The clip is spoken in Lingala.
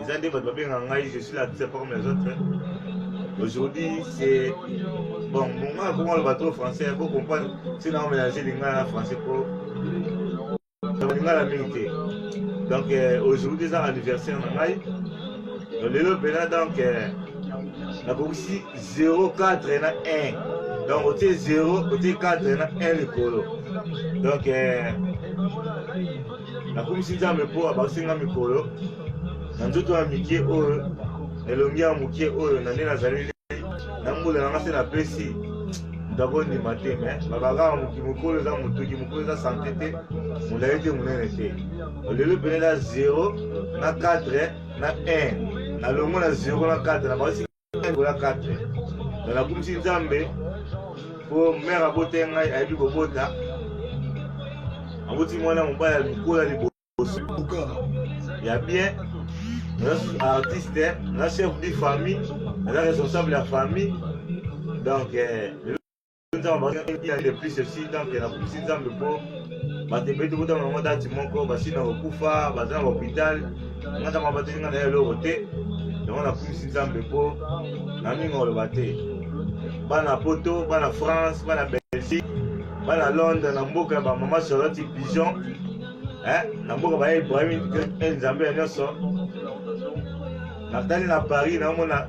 eza nde bato babengaka ngai je suis l'artiste pas comme les autres aujourd'hui c'est bon monga akoma loba trop français po comprendre si nao mélange lingala na français po lingala mingi te donc euh, aujourd'hui eza anniversaire na ngai donc lelo mpena donc euh, nakokisi 04 na 1 donc otie 0 otie 4 na 1 likolo donc euh, Nakumisi Nzambe mpo abakisi nga mikolo na nzoto ya mikie oyo na elongi ya mokie oyo na nde nazali lei na mbula na nga se napesi moto akondima te me babakaka moki mokolo eza motuki mokolo eza sante te molai te monene te lelo pene na 0 na 4 na 1 nalongo na 0 na 4 na basi Ola 4 na nakumisi nzambe mpo mere abota ye ngai ayebi kobota aboti mwana mobali ya lokola liboso ya bien naza artiste naza chef de famille naza responsable ya famille donc eh, batebeti kuta bango dati moko basi na kokufa baza na bahopital ngata ma bateli nga na ye eloko te yango nakumisi nzambe mpo na mingi oloba te bana poto bana france bana belgique bana londres na mboka ya bamama charlotte pigeon na mboka baya ibrahim nzambe ya nyonso natali na paris naomona